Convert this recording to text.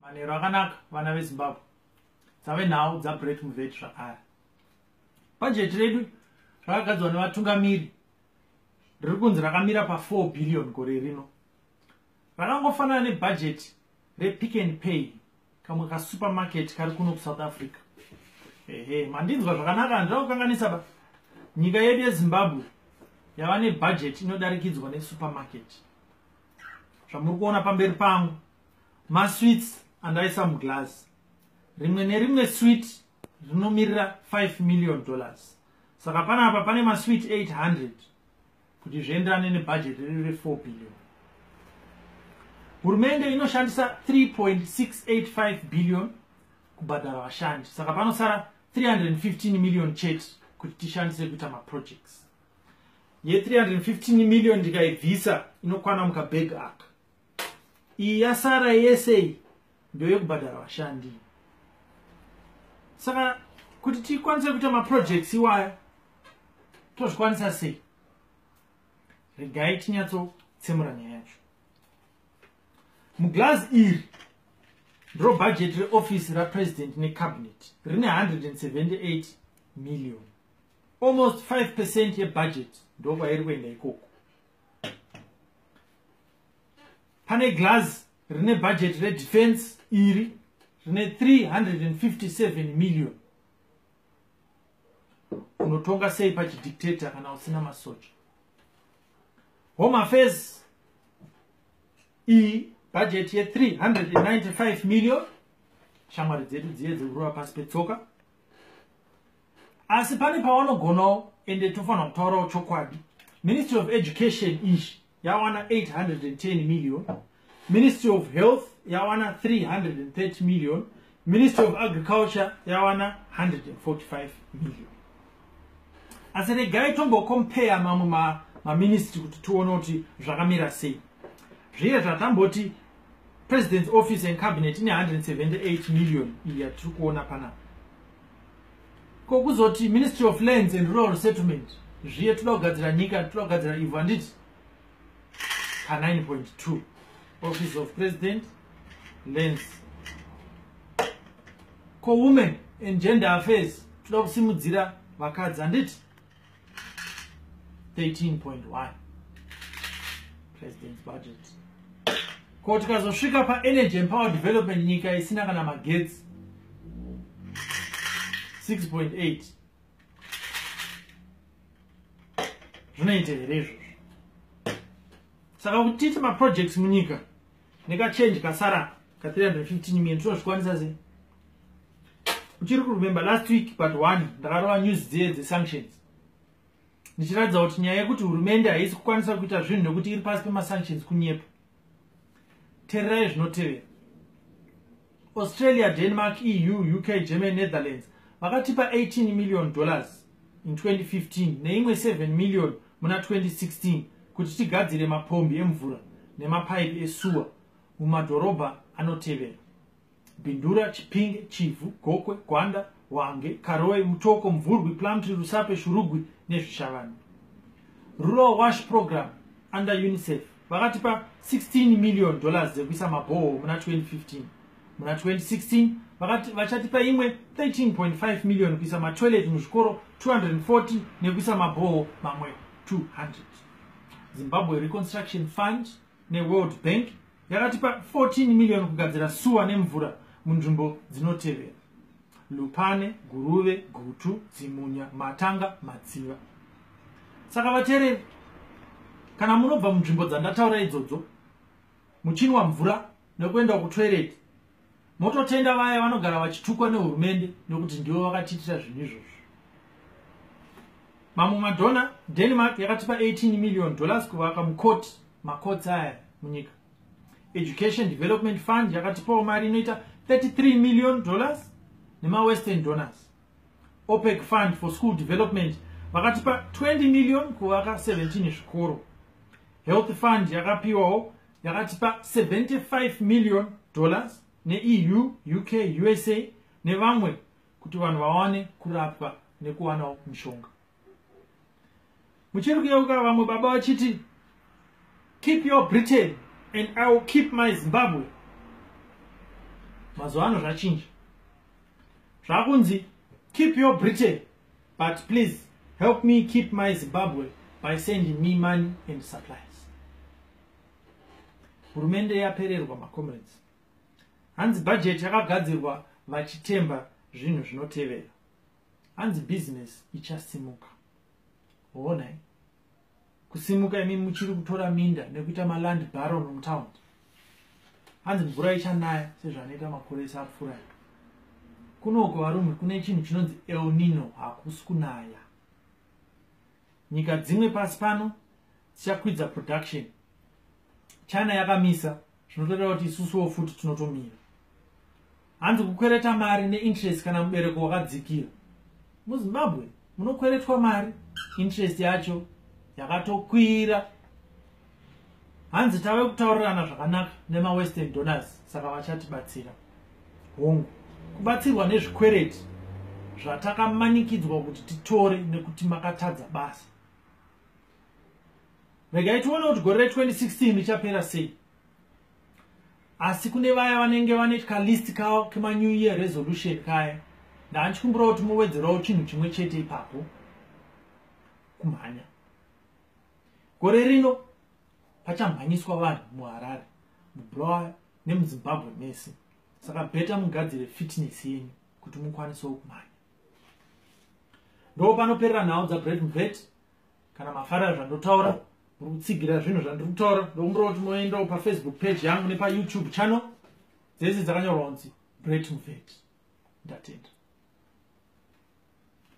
Manheru akanaka vana veZimbabwe. Dzave nhau dzaBrett Muvheti zvakare. Bhajeti redu rakagadzwa nevatungamiri riri kunzi rakamira pa4 billion gore rino. Rakangofanana nebhajeti rePick and Pay kamwe kasupermarket kari kuno kuSouth Africa. Ehe, mandinzwa zvakanaka handina kukanganisa ba. Nyika yedu yeZimbabwe yava nebhajeti inodarikidzwa nesupermarket. Zvamuri kuona pamberi pangu Masweets andaisa muglass. Rimwe nerimwe sweet rinomirira 5 million dollars. Saka panapa pane masweet 800 kuti zvienderane nebhajeti riri re 4 billion. Hurumende inoshandisa 3.685 billion kubhadhara vashandi. Saka panosara 315 million chete kuti tishandise kuita maprojects. Ye 315 million ndikaibvisa inokwana mukabag aka. iyi yasara yese iyi ndoyekubhadhara vashandi saka kuti tikwanise kuita maprojects iwayo tozvikwanisa sei regai tinyatsotsemura nyaya yacho muglazi iri ndiro bhajeti reofisi rapresident necabinet rine 178 million almost 5 percent yebhajeti ndokwairi kuenda ikoko pane glass rine budget redefense iri rine 357 million unotonga sei pachidictator kana usina masocha home affairs iyi bhajeti ye395 million shamwari dzedu dziye dzekurova pasi petsoka asi pane pavanogonawo ende tofanira kutaurawo chokwadi ministry of education izvi yawana 810 million ministry of health yawana 330 million ministry of agriculture yawana 145 million asi regai tombokompeya mamwe ma, maministry kuti tione kuti zvakamira sei zviye zvatamboti president's office and cabinet ine 178 million iyi yatiri kuona panapa ko kuzoti ministry of lands and rural settlement zviye toda kugadzira nyika toda kugadzira ivhu handiti ka 9.2 office of president lands ko women and gender affairs toda kusimudzira vakadzi handiti 13.1 president's budget ko tikazosvika paenergy and power development nyika isina kana magetsi 6.8 zvinoita here izvozvo saka kuti tiite maprojects munyika nekachange kasara ka 315 million tinozvikwanisa sei uchiri kuremember last week but one ndakarova news dziye dzesanctions ndichiratidza kuti nyaya yekuti hurumende haisi kukwanisa kuita zvinhu nekuti iri pasi pemasanctions kunyepa tererai zvinotevera australia denmark eu uk germany netherlands vakatipa 18 million dollars in 2015 neimwe 7 million muna 2016 kuti tigadzire mapombi emvura nemapaipi esuwa mumadhorobha anotevera Bindura, Chipinge, Chivhu, Gokwe, Gwanda, Hwange, Karoe, Mutoko, Mvurwi, Plumtree, Rusape, Shurugwi neZvishavane. Rural Wash Program under UNICEF vakatipa 16 million dollars dzekuisa mabhoho muna 2015. Muna 2016 vakati vachatipa imwe 13.5 million kuisa matoilet muzvikoro 240 nekuisa mabhoho mamwe 200. Zimbabwe Reconstruction Fund neWorld Bank yakatipa 14 million kugadzira suwa nemvura munzvimbo dzinotevera lupane guruve gutu dzimunya matanga matsiva saka vatereri kana munobva munzvimbo dzandataura idzodzo muchinwa mvura nekuenda kutoireti mototenda vaya vanogara vachitukwa nehurumende nekuti ndivo vakatiitira zvinhu izvozvo mamwe madhona denmark yakatipa 18 million dollars kuvaka mukoti makotsi aya munyika education development fund yakatipawo mari inoita 33 million dollars nemawestern donors opec fund for school development vakatipa 20 million kuvaka 17 zvikoro health fund yakapiwawo yakatipa 75 million dollars neeu uk usa nevamwe kuti vanhu vawane kurapwa nekuwanawo mushonga muchiri kuyeuka vamwe baba vachiti keep your britain and i will keep my zimbabwe mazuva ano zvachinja zvakunzi keep your britain but please help me keep my zimbabwe by sending me money and supplies hurumende yapererwa macomrades hanzi budget yakagadzirwa vachitemba zvinhu zvinotevera hanzi business ichasimuka honai kusimuka imi muchiri kutora minda nekuita maland baron mutown hanzi mvura ichanaya sezvanoita makore ese apfuura kunoko varume kune chinhu chinonzi elnino hakusi kunaya nyika dzimwe pasi pano dzichakwidza production china yakamisa zvinotoreva kuti isusuwo futi tinotomira hanzi kukwereta mari neinterest kana mubereko wakadzikira muzimbabwe munokweretwa mari interest yacho yakatokwira hanzi tave kutaurirana zvakanaka nemawestern donors saka vachatibatsira hongu kubatsirwa nezvikwereti zvatakamanikidzwa kuti titore nekuti makatadza basa regai tione kuti gore re 2016 richapera sei asi kune vaya vanenge vane kalist kawo kemanew year resolution kaya ndanchikumbirawo kuti mowedzerawo chinhu chimwe chete ipapo kumhanya gore rino pachamhanyiswa vanhu muharare mubulawayo nemuzimbabwe mese saka beta mugadzire fitness yenyu kuti mukwanisewo kumhanya ndo panoperera nhau dzabrevvet kana mafarira zvandotaura muri kutsigira zvinhu zvandiri kutaura ndokumbira kuti moendawo pafacebook page yangu nepayoutube channel dzese dzakanyorwa kunzi great mufeti ndatenda